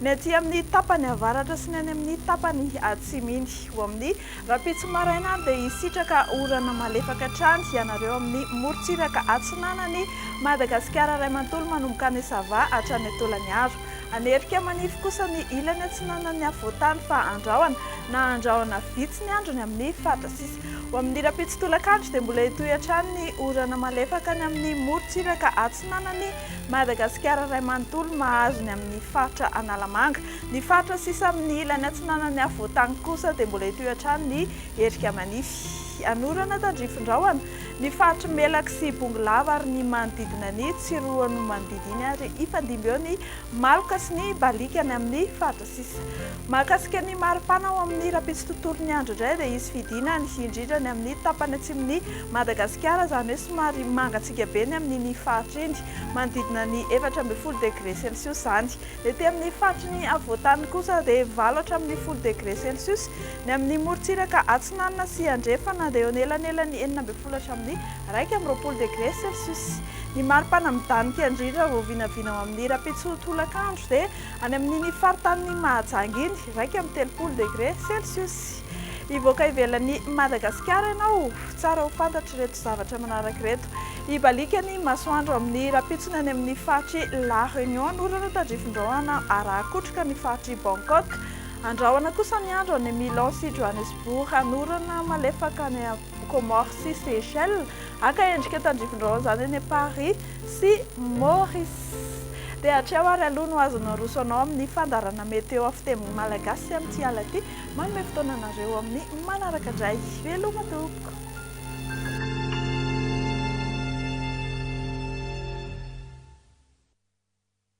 Ny aty amin'ny tapany avaratra sy ny any amin'ny tapany atsiminy. Ho amin'ny rahampitso maraina dia hisitraka orana malefaka hatrany ianareo amin'ny morontsiraka atsinanan'i Madagasikara iray manontolo manomboka any Sava hatrany Tolagnaro. Hanerika manify kosa ny ilany atsinanan'ny afovoan-tany fa andrahona na andrahona vitsy ny andro ny amin'ny faritra sisa. Ho amin'ny rahampitso tolakandro dia mbola hitohy hatrany ny orana malefaka any amin'ny morontsiraka atsinanan'i Madagasikara iray manontolo mahazo ny amin'ny faritra Analamanga. Ny faritra sisa amin'ny ilany atsinanan'ny afovoan-tany kosa dia mbola hitohy hatrany ny erika manify. An'orana tandrifindrahona ny faritr'i Melaky sy Bongolava ary ny manodidina ny Tsiroanomandidy iny ary hifandimby eo ny Maloka sy ny Baliaka any amin'ny faritra. Sisa. Mahakasika ny maripana ao amin'ny rahampitso tontolon'ny andro indray dia hisy fidinany, indrindra ny amin'ny tapany atsimon'i Madagasikara, izany hoe somary mangatsiaka be ny amin'iny faritra iny, manodidina ny efatra ambin'ny folo degre celsius izany. Ny ety amin'ny faritry ny afovoantany kosa dia valo hatramin'ny folo degre celsius. Ny amin'ny morontsiraka atsinanana sy andrefana dia eo anelanelan'ny enina ambin'ny folo hatramin'ny iraika amby roapolo degre celsius. Ny maripana midanika indrindra vao vinavina ao amin'ny rahampitso tolakandro dia Any amin'iny faritanin'i Mahajanga iny, iraika amby telopolo degre celsius. Hivoaka ivelan'i Madagasikara ianao, tsara ho fantatr'ireto zavatra manaraka ireto. Hibaliaka ny masoandro amin'ny rampitsony any amin'ny faritr'i La Réunion an'orana tandrifindrahona araha-kotroka ny faritr'i Bangkok. Andrahona kosa ny andro any Milan sy Johannesburg an'orana malefaka any Comores sy Seychelles, haka endrika tandrivindraona izany eny Paris sy Maurice. Dia hatreo ary aloha no azon'ny aroso anao amin'ny fandaharana météo amin'ny fiteny malagasy sy amin'ity alina ity. Manome fotoana anareo amin'ny manaraka indray. Veloma tompoko.